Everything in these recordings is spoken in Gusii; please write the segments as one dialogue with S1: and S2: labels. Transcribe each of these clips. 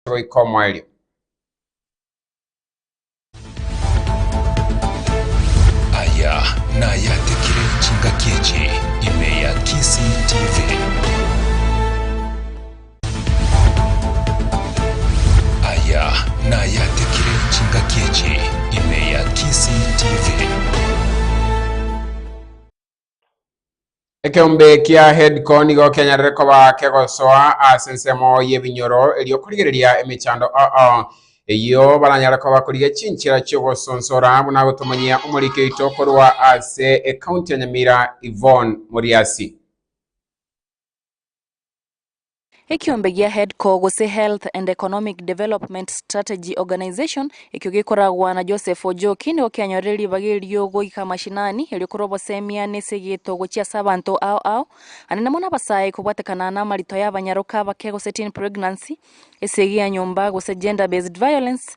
S1: goika omoerio.
S2: Aya nayatekire chingaki echi ime ya Kisii TV. Aya nayatekire chingaki echi ime ya Kisii TV.
S1: Ekeombe kia Headco nigo kenyarere koba kegosoa ase ensemo y'ebinyoro erio korigereria emechando oo eyio baranyare koba korigia chinchera chi'ogosonsora buna gotomanyia omoriki oito korwa ase Ekaunti ya Nyamira Yvonne Moriasi.
S3: Ekiombe gia HEDCO, gose Health and Economic Development Strategy Organization, ekio gekoragwa na Joseph Ojoki, nigo kianyorire ribaga erio goika amashinani, erio korwa obosemiaa na ase egeto gochia ase abanto ao ao, aande namo nabasae kobwatekana namarito y'abanyaroka abake gose teen pregnancy, esegi ya nyomba, gose gender-based violence.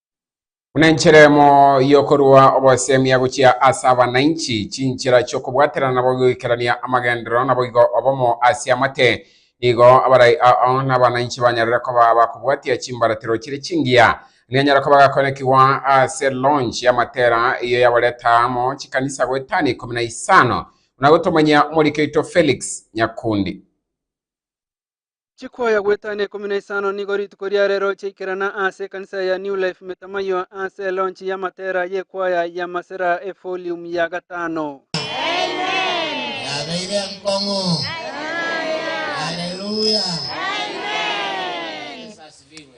S1: Buna enchera emo y'okorua obosemia gochia ase abananchi, chinchera chi'okobwaterana nabo goikerania amagenderero naboigo obomo ase amate, nigo abarai ao na abananchi banyarire koba abakobwatia chimbaratero chire chingiya. Nianyare koba agakoenekigwa ase launch y'amatera eyio yabareta amo chikanisa goetania ikomi na isano, buna gotomanyia omoriki oito Felix Nyakundi.
S4: Chikoya goetano ikomi na isano nigo rituko ria rero chiaikerana ase ekanisa ya New Life Metamayiwa ase elonchi ya Matera y'ekwaya ya Masera efolium ya gatano. Yabeire
S5: enkong'u. Haleluya. Yesu asifiwe.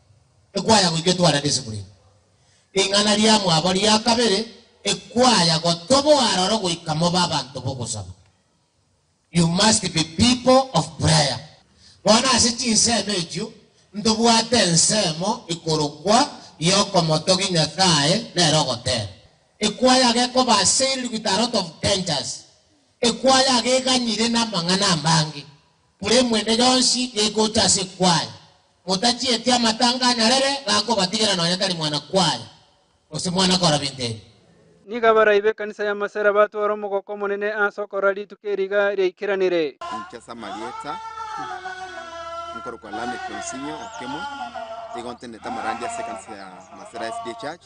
S5: Ekwaya goika etwarete esemura eye. Ring'ana riamwabo ria kabere, Ekwaya gotoboa aroro goika mobe abanto b'ogosaba. You must be people of prayer. Bono ase chinsemo echio ntobwate ensemo ikorokwa y'okomotogia Nyasae nere ogotera. Ekwaya gekoba assailed with a lot of dangers. Ekwaya iga eganyire namang'ana amange. Buri mwende yonsi gegocha ase kwaye, motachieti amatanga anyarere gakobatigera nonya tari mwana kwaye, gose mwana kora binto ebi. Nigo abarai
S4: b'ekanisa ya Masera batwora omogoko omonene ase okorora rituko eriga riaikeranire. Ninki ase amarieta
S6: nkorokwa Lameck Onsinyo Okemo, nigo ntenenete amarandia ase ekanisa ya Masera SDA Church.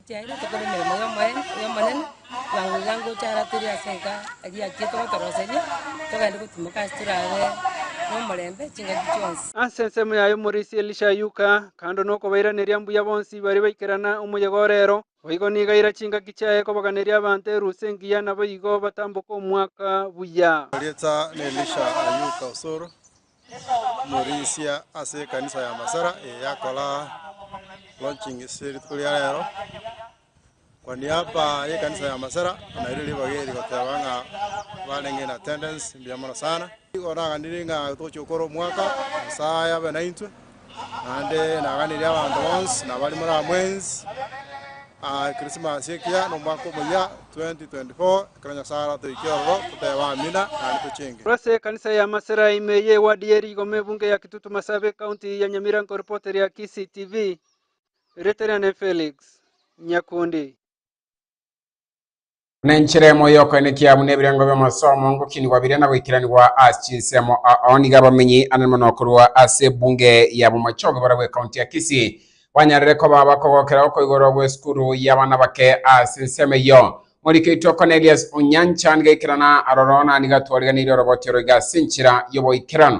S7: Chiaye tokore emeremo y'Omonene, y'Omonene, bwango iga ngocha ara tore ase enka eria achiete gotoroseria, togende gotimoka ase torabe nomorembe chingaki chionsi. Ase ensemo yaye omorisia
S4: Elisha aiyuka, kando nokobairaneria mbuya bonsi baria baikerana omoyegora ero. Boigo nigo aira chingaki chiaye kobaganeria abanto erusi engiya naboigo batamboke omwaka buya. Rieta n'Elisha
S8: aiyuka Osoro, omorisia ase ekanisa ya Masara eye yakora launching ase rituko ria rero. Kwa niaba y'ekanisa ya Masara, naireo ribaga eri goteba ng'a barenge in attendance, mbuya mono sana. Igo naganire ng'a togochia gokora omwaka, Nyasae abe naintwe, naende naaganerie abanto bonsi nabare more amwensi Christmas ekiya na omwaka omoyia 2024, ekero Nyasae aratoikie ororo toteebe Amina naende tochenge. Ase ekanisa ya
S4: Masera ime eye ewadi ye Rigoma ebunge ya Kitutu Masabi ekaunti ya Nyamirango Report ria Kisii TV Riterane Felix Nyakundi.
S1: Buna enchera emo y'okoenekia buna ebirengo bi'amasomo ngokinigwa biria na goikeranigwa ase chinsemo ao nigo abamenyi anene mono korwa ase ebunge ya bomochoge bore bw'ekaunti ya Kisii banyarire koba abakogokera okoigorwa gw'esukuru y'abana bake ase ensemo eyio. Morikeitwe Cornelius Onyancha nigo aikerana aroro na nigo atwariganeire orogoti oro iga ase enchera y'oboikeranu.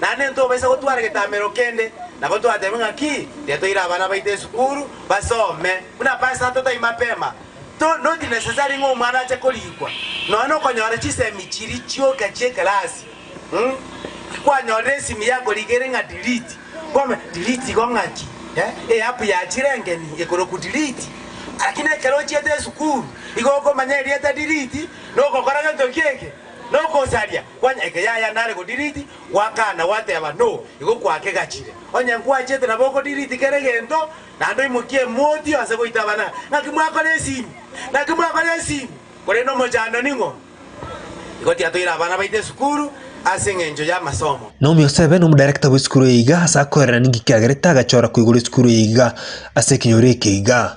S9: Naende ntobaisa gotwara getamero kende, nabo twatebe ng'a ki getoire abana baito esukuru basome. Buna aba asato tai mapema, to not necessary ng'a omwana ache korikwa, nonya nokonyora chisemi chiria chioka chi'ekelasi. Umm kwanyorire esimi yakorikwa ere ng'a delete, kwame delete igo ng'aki? Eh, eapp ya chirengeni ekorokwa delete. Lakini ekero ochiete esukuru, igo okomanya erieta delete, nogokora gento ki'eke. Nogosaria kwanya eke yaya nare go delete gwakana gwateba no igo kwakegachire onye nkwachete nabo oko delete kere gento naende oimokie emoti ase goita abana ngaki mwakora esimi ngaki mwakora esimi korende omochando ning'o igo tiatoire abana baito esukuru ase eng'encho y'amasomo. Naomi Osebe nomodarekta
S10: bw'esukuru eye iga ase akoerera ninki kiagerete agachora koigoro esukuru eye iga ase ekenyoro eke iga.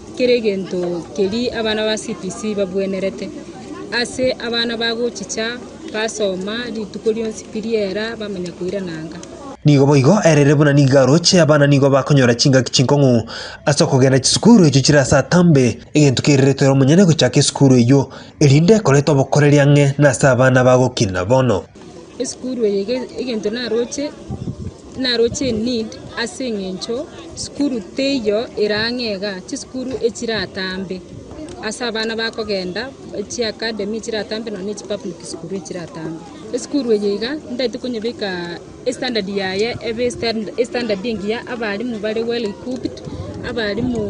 S11: Kera egento keria abana ba CPC babwenerete ase abana bagochicha basoma rituko rionsi pi riera bamanya koirana anga. Nigo boigo
S10: erere buna nigo aroche abana nigo bakonyora chingaki chinkong'u ase okogenda chisukuru echio chire ase atambe egento kerirete ore omonyene gochaka esukuru eyio erinde ekorete obokoreri ang'e nase abana bagokina bono. esukuru eye
S11: ege egento naroche, naroche in need ase eng'encho sukuru teiyo erang'e iga, chisukuru echiratambe ase abana bakogenda echia academy echiratambe nonya na echi public school echiratambe. Esukuru eye iga ntagete konyebeka estandard yaye ebe estanda estandard engiya, abalimu bare well equipped, abalimu.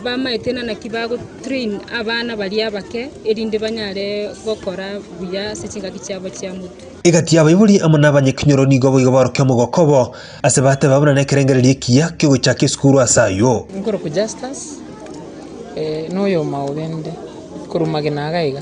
S11: bamaete na naki ba train abana baria abake, erinde banyare gokora buya ase chingaki chiabo chia motwe. Egati y'abaibori
S10: amo n'abanyakinyoro nigo boigo barokia omogoko obo, ase bateba buna nekerengererio ekiya kiogochaka esukuru ase ayio. Nkorokwa Justus,
S12: na oyomo aogende korwa magena aga iga.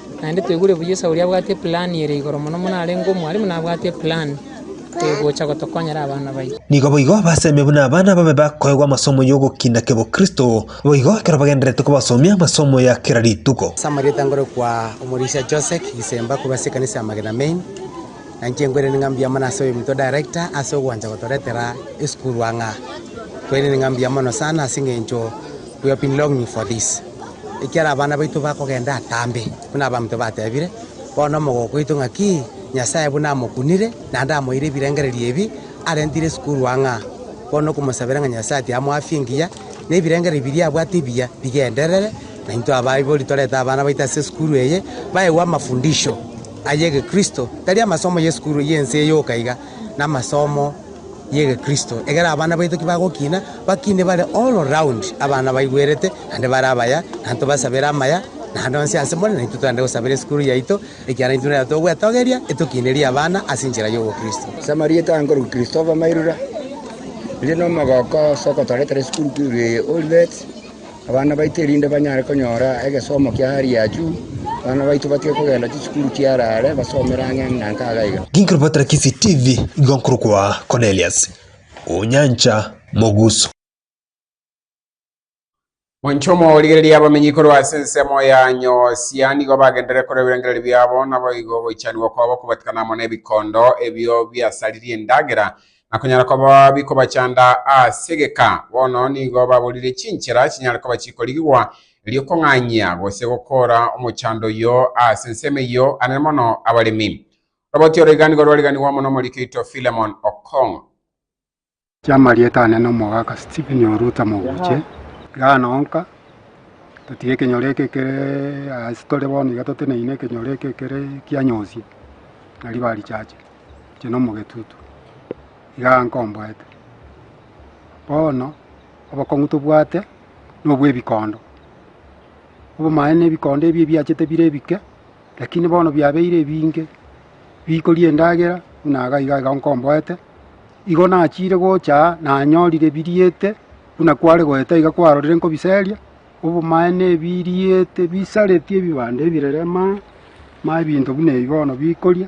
S12: Naende toigure buya Esau oria abwate eplan ere igoro mono mono arenge omwarimu na abwate eplan egocha gotokonyera abana baito. Nigo boigo baseme
S10: buna abana babe bakoegwa amasomo y'ogokina kebokristo. Boigo ekero bagendererete kobasomia amasomo ya kera rituko. Ase amarieta ngorokwa
S13: Omorisia Josek Gisemba korwa ase ekanisa ya Magena Main, na inche nkwerenire ng'a mbuya mono ase oyominto Director ase ogwancha gotoretera esukuru ang'a. Nkwerenire ng'a mbuya mono sana ase eng'encho we have been longing for this. ekiara abana baito bakogenda atambe, buna abaminto batebire, bono omogoko oito ng'aki, Nyasae buna amokunire, naende amoeire ebirengererio ebi, arentire esukuru ang'aa. Bono okomosabera ng'a Nyasae ati amoafie engiya, na ebirengererio biria abwate ebiya bigenderere, na intwe abaibori torete abana baito ase esukuru eye, baegwe amafundisho ay'Egekristo, tari amasomo y'esukuru y'ense eyoka iga, namasomo y'egekristo, ekero abana baito kibagokina, bakine bare all round, abana baigwerete, naende bare abaya, na ntobasabere amaya naende onsi ase more, naintwe togende gosabera esukuru yaito, ekiagera intwe nere togwetogeria etokinerie abana ase enchera y'obokristo. Ase amarieta aa nkorwa
S14: Christopher Mairura, oria nomogoko ase ogotoretera esukuru ya Olivet. abana baito erinde banyare konyora egesomo kia hali ya juu, abana baito batige kogenda chisukuru chi'hare hare, basomere ang'e na ang'e iga iga. Ginkorobatera Kisii
S10: TV igo nkorokwa Cornelius Onyancha Mogusu.
S1: Monche omorigereria abamenyi korwa ase ensemo ya Nyosia nigo bagenderere korwa ebirengererio biabo, naboigo ogoichanigwa kwabo kobatikana amo nebikondo ebio biasaririe endagera na konyara koba bikobachanda ase egeka. Bono nigo baborire chinchera chinyare koba chikorigigwa, erio kong'anyia gose gokoora omochando oyio ase ensemo eyio, anene mono abaremi. Oroboti oro iga nigo rwariganigwa amo n'omoriki oito Philemon Okong'o.
S15: Chi'amarieta anene Omogaka Stephen Oruta Moguche, igaa nonka totige ekenyoro eke ekere ase tore bono iga toteneine ekenyoro eke ekere kianyosie na riba richache. inche nomogetutu, igaa nkomboete. Bono obokong'u tobwate nobw'ebikondo, obomaene ebikondo ebi ebiachete bire ebike, lakini bono biabeire ebinge, bikoria endagera buna iga iga iga nkomboete, igo nachiire gocha aa nanyorire biriete buna kware goeta iga kwarorire nkobiseria, obomaene ebiriete bisaretie ebibando ebirere maa, ma ebinto buna ebi bono bikoria,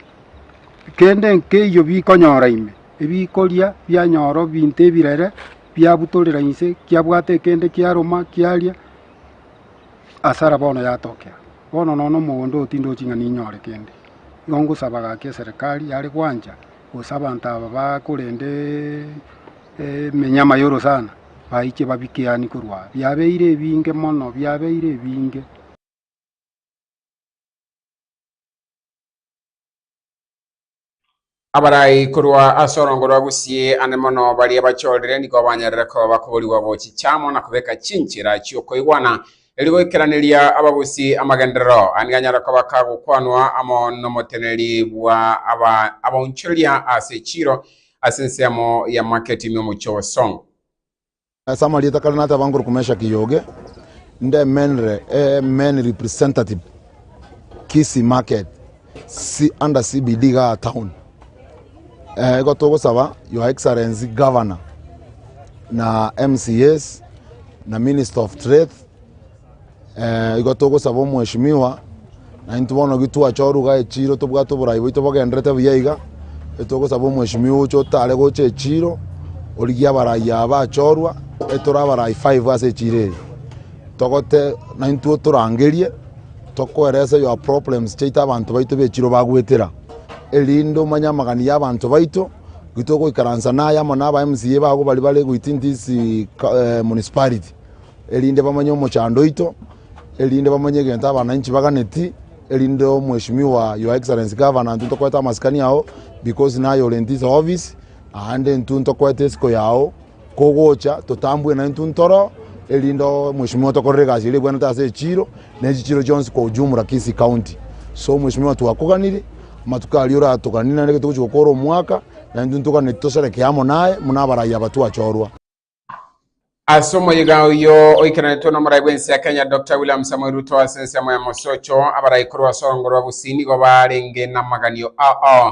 S15: kende nkeiyo bikonyora ime, ebikoria bianyora ebinto ebirere biabutorera inse kiabwate kende kiaruma kiaria, hasara bono yatokea. Bono nonya omogondo oo tindochi ng'a ninyore kende, igo ngosaba gaki eserekari yare gwancha. gose abanto aba bakorenda eminyama yoro sana baiche babike yaani korwa aa. Biabeire ebinge mono, biabeire ebinge.
S1: Abarai korwa ase orongo rwa Gusii ande mono baria bachorire nigo banyarire koba bakoborigwa bo chichamo na kobeka chinchera chi'okoigwana Erio goikeraneria abagusii amagenderero ande ganyare koba ka gokwanwa amo nomoteneneri bwa aba abaonchoria ase chiiro ase ensemo ya market ime omochie o Song. Ase
S16: amarieta kare nateba ngoroku Meshaki Yoge, ndemenire emen representative Kisii market. si under CBD igaa town. Eh, igo togosaba Your Excellency Governor na MCAs na Minister of Trade eh, igo togosaba omweshimiwa na intwe bono gitwacha oruga echiro tobwate oborai boito bogenderete buya iga etogosaba omweshimiwa oche otare gocha echiro origie abarai aba bachorwa etore abarai five ase echiro eye togote na intwe otorangerie Tokoeresa your problems chiaito abanto baito bechirwe bagwetera erinde omanye amagani y'abanto baito. Gitogoikaransa naye amo na aba MCA bago bari bare within this eh, municipality erinde bamanye omochando oito erinde bamanye egento abananchi baganeti erinde omweshimiwa your excellency governor intwe tokoete amasikani ao because naye ore in this office aande intwe tokoete esiko yao Kogocha totambwe na intwe ntoro erinde omweshimiwa otokorere egasi eria ebwanete ase echiro na echichiro chionsi kwa ujumla Kisii County. So omweshimiwa twakoganiri amatuko aria oratoganiri naende ekero togochi gokora omwaka na intwe ntoganeti toserekee amo naye buna abarai aba twachorwa.
S1: Ase omoyiga oyio oikaranetwe na omorai bw'ense ya Kenya Doctor William Samoei Ruto ase ensemo ya Mosocho, abarai korwa ase orongoro rwa Gusii nigo baarenge namaganio aa.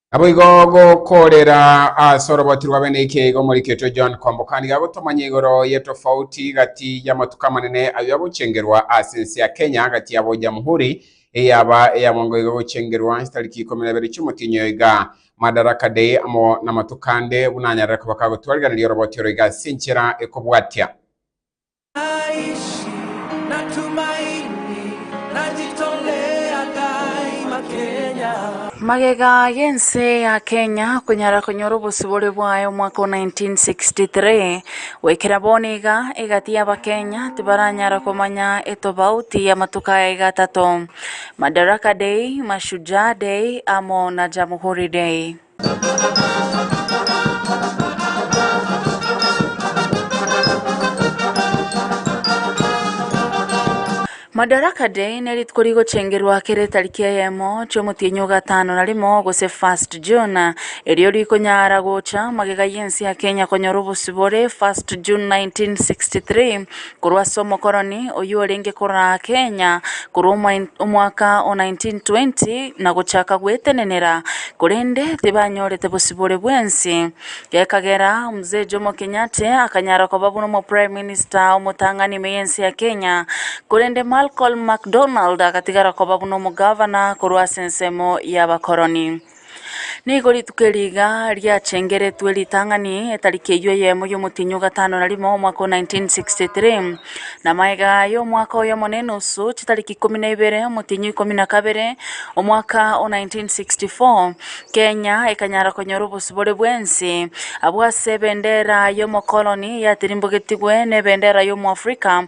S17: Naboigo
S1: gokoorera ase oroboti rwa bene ekeigo omoriketwe John Kombokani gagotomanya igoro y'etofauti gati y'amatuko amanene ayio agochengerwa ase ense ya Kenya gati yabo Jamhuri eyaba eya mwango iga gochengerwa chitariki ikomi na ibere chi'omotienyi oyo iga Madaraka Day amo namatuko ande buna anyarare koba kagotwariraneri oroboti oro iga ase enchera ekobwatia Naishi
S3: na tumaini, najitolea daima Kenya. Magega y'ense ya Kenya konyara konyora obosibore bwaye omwaka o 1963. Goikera bono iga, egati y'Abakenya tibaranyara komanya etobauti y'amatuko aya iga atato, Madaraka Day, Mashujaa Day amo na Jamhuri Day. Madaraka Day nerituko rigochengerwa kera etariki eyemo chi'omotienyi ogatano na rimo gose 1st June, erio rikonyara gocha magega y'ense ya Kenya konyora obosibore 1st June 1963. korwa ase omokoroni oyio orenge koraa Kenya korwa omoen omwaka o 1920 na gochaka gwetenenera, korende tibanyorete bosibore bwensi, gekagera Mzee Jomo Kenyatte akanyara koba buna omoprime minister omotang'ani ime y'ense ya Kenya, korende Malcolm McDonald agatigara koba buna omogavana korwa ase ensemo y'abakoroni. Nigo rituko eri iga riachengeretwe ritang'ani, etariki eyio eyemo y'omotienyi o gatano na rimo, omwaka o 1963. Na magega aya omwaka oyomo na enusu, chitariki ikomi na ibere, omotienyi o ikomi na kabere, omwaka o 1964, Kenya ekanyara konyora obosibore bw'ense abwo ase ebendera y'omokoloni yatirimbogetigwe na ebendera y'Omoafrika,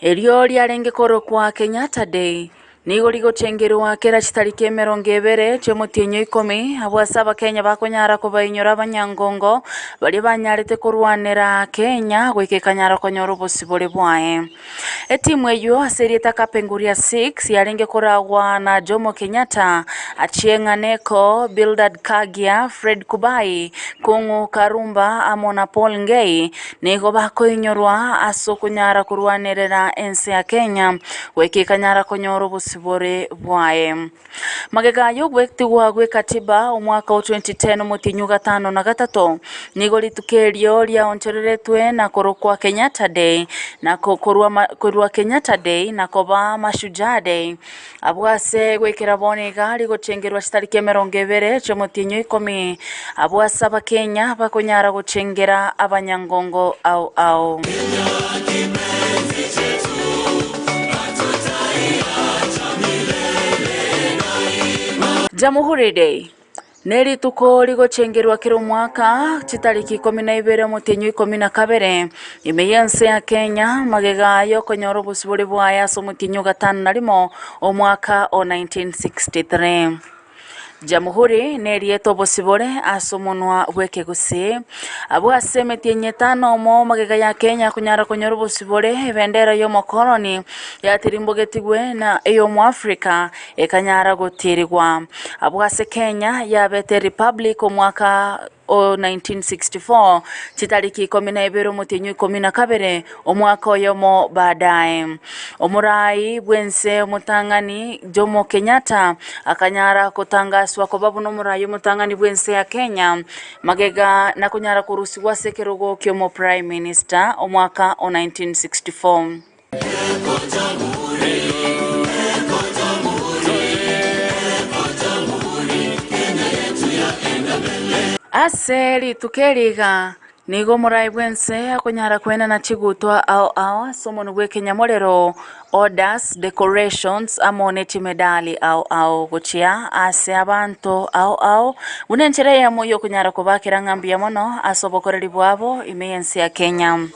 S3: Erio riarenge korokwa Kenyatta Day. Nigo rigochengerwa kera chitariki emerongo ebere chi'omotienyi o ikomi, abwo ase Abakenya bakonyara kobainyora abanyangongo baria banyarete korwanera Kenya goika ekanyara konyora obosibore bwaye. Etimu eyio ase erieta Kapenguria Six yarenge koragwa na Jomo Kenyatta, Achieng' Aneko, Bildad Kagia, Fred Kubai, Kung'u Karumba amo na Paul Ngei, Nigo bakoinyorwa ase okonyara korwanerera ense ya Kenya goika ekanyara konyora obosibore bwaye. Magega aya ogwetigwa gwe Katiba omwaka o 2010 omotienyi o gatano na gatato nigo rituko erio riaonchoreretwe na korokwa Kenyatta Day na korwa Kenyatta Day na koba Mashujaa Day. Abwo ase goikera bono iga rigochengerwa chitariki emerongo ebere chi'omotienyi o ikomi, abwo ase Abakenya bakonyara gochengera abanyangongo ao ao. Jamhuri Day. Ne rituko rigochengerwa kera omwaka chitariki ikomi na ibere omotienyi o ikomi na kabere, ime y'ense ya Kenya, magega y'okonyora obosibore bwaye ase omotienyi o gatano na rimo omwaka o 1963. Jamhuri nerieta obosibore ase omonwa bw'ekegusii. Abwo ase emetienyi etano omo magega ya Kenya akonyara konyora obosibore, ebendera y'omokoroni yatirimbogetigwe na ey'omoafrika, ekanyara gotirigwa. Abwo ase Kenya yabete republic omwaka o 1964, chitariki ikomi na ibere omotienyi ikomi na kabere, omwaka oyomo baadaye, omoraai bw'ense omotang'ani Jomo Kenyatta akanyara gotangaswa koba buna omoraai omotang'ani bw'ense ya Kenya magega na konyara korusigwa ase ekerogo ki'omo prime minister omwaka o 1964. Ase rituko eri iga nigo morae bwense akonyara koenana chigutwa ao ao ase omonu bw'ekenyamorero, orders, decorations, amo ne chimedali ao ao, gochia ase abanto ao ao, buna enchera eyemo y'okonyara kobakera ng'a mbuya mono ase obokoreri bwabo ime y'ense ya Kenya.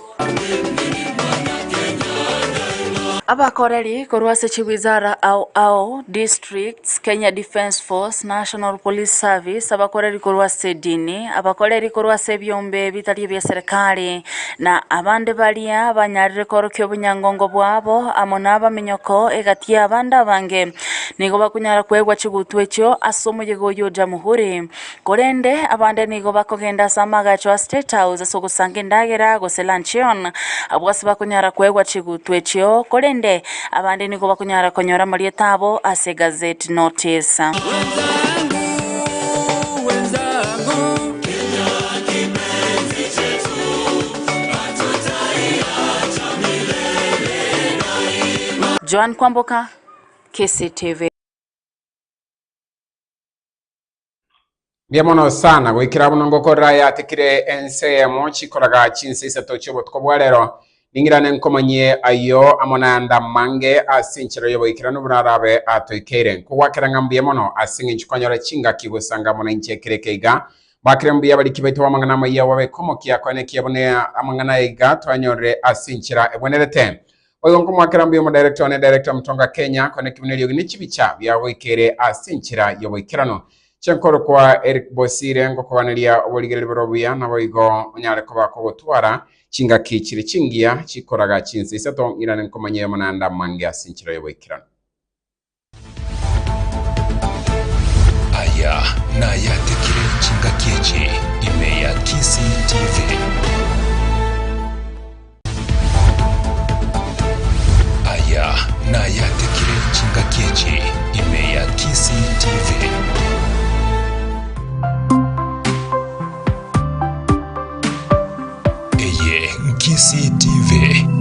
S3: Abakoreri korwa ase chiwizara ao ao, districts, Kenya Defence Force, National Police Service, abakoreri korwa ase edini, abakoreri korwa ase ebiombe ebitari ebia serikari, na abande baria banyarire koorokia obonyangongo bwabo amo nabaminyoko egati y'abande abange, nigo bakunyara kweegwa chigutwa echio ase omoyega oyio o Jamhuri. Korende abande nigo bakogenda ase amagacho a State House ase ogosanga endagera gose luncheon, abwo ase bakonyara koegwa chigutwa echio, korende abande nigo bakonyara konyora amarieta abo ase gazette notice. Joan Kwamboka, KCTV.
S1: Mbuya mono sana goikera buna ngokorera yatikire ense yemo chikoraga chinse isato chiobotuko bwa rero ning'irane nkomanyie ayo amo nanda mange ase enchera y'oboikeranu buna arabe atoikeire nkogwakera ng'a mbuya mono ase eng'encho kwanyora chingaki gosanga amo nainche ekero eke iga bakire mbuya abariki baito b'amang'ana amayia obabe komokia kweneki abune amang'ana iga twanyorire ase enchera egwenerete Oyo nkomoakera mbuya omodirector one, Director Mutonga Kenya, kore naki buna eriogi ne chibicha biagoikere ase enchera y'oboikeranu. Inche nkorokwa Eric Bosire, ngokobaneria oborigereri bore obuya, naboigo onyare koba kogotwara chingaki chire chingiya chikoraga chinsa isato ng'irane nkomanye omonanda mwange ase enchera y'oboikeranu.
S18: Aya nayatekire chingaki echi ime ya Kisii TV. Aya nayatekire chingaki echi ime ya Kisii TV. Eye Nkisii TV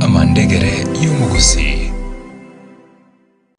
S18: amandegere y'omogusii.